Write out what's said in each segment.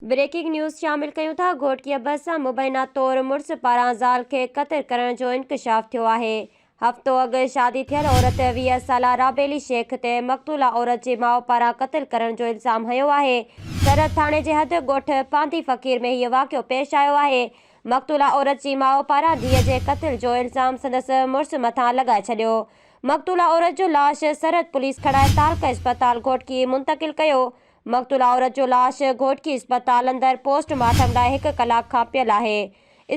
Breaking news شامل ڪيون ٿا، گهوٽڪيء بس سان مبينا طور مڙس پاران زال کي قتل ڪرڻ جو انڪشاف ٿيو آهي. هفتو اڳ شادي ٿيل عورت ويهه سالا رابيلي شيخ تي مقتولا عورت جي ماء پاران قتل ڪرڻ جو الزام هنيو آهي. سرحد ٿاڻي جي حد ڳوٺ پانڌي فقير ۾ هيء واقعو پيش آيو آهي. مقتولا عورت جي ماء پاران ڌيء جي قتل جو الزام سندس مڙس مٿان لڳائي ڇڏيو. مقتولا عورت جو لاش سرحد پوليس کڻائي تعلقه اسپتال گهوٽڪي منتقل ڪيو. مقتولا عورت جو لاش گهوٽڪي اسپتال اندر پوسٽ مارٽم لاء هڪ ڪلاڪ کان پيل آهي.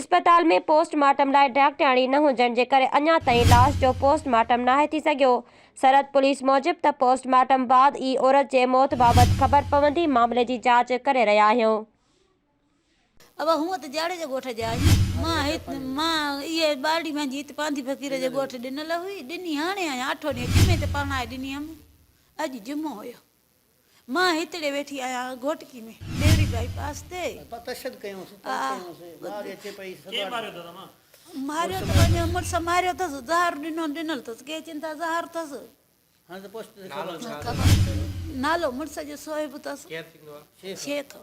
اسپتال ۾ پوسٽ مارٽم لاء ڊاڪٽرياڻي نه هجڻ جي ڪري اڃا تائين لاش جو پوسٽ مارٽم ناهي ٿي سگهيو. سرحد پوليس موجب ته پوسٽ مارٽم بعد ئي عورت جي موت بابت خبر پوندي معاملي جي جاچ ڪري رهيا آهيون. اوهان هونئن ته جاڙيجا ڳوٺ جا آهيون. مان هت مان اهي ٻارڙي پنهنجي هت پانڌي فقير جي ڳوٺ ڏنل هئي. ڏني هاڻي آهيان. اٺون ڏينهن جمعي تي پرڻائي ڏني هيم. اڄ جمعو هيو. مان هتڙي ويٺي آهيان گهوٽڪي ۾ ڏيري بائي پاس تي. ماريو ته پنهنجو مڙس ماريو اٿس زهر ڏنو ڏنل اٿس ڪي چين ٿا زهر اٿس. نالو مڙس جو صهيب اٿس. شير ٿيندو.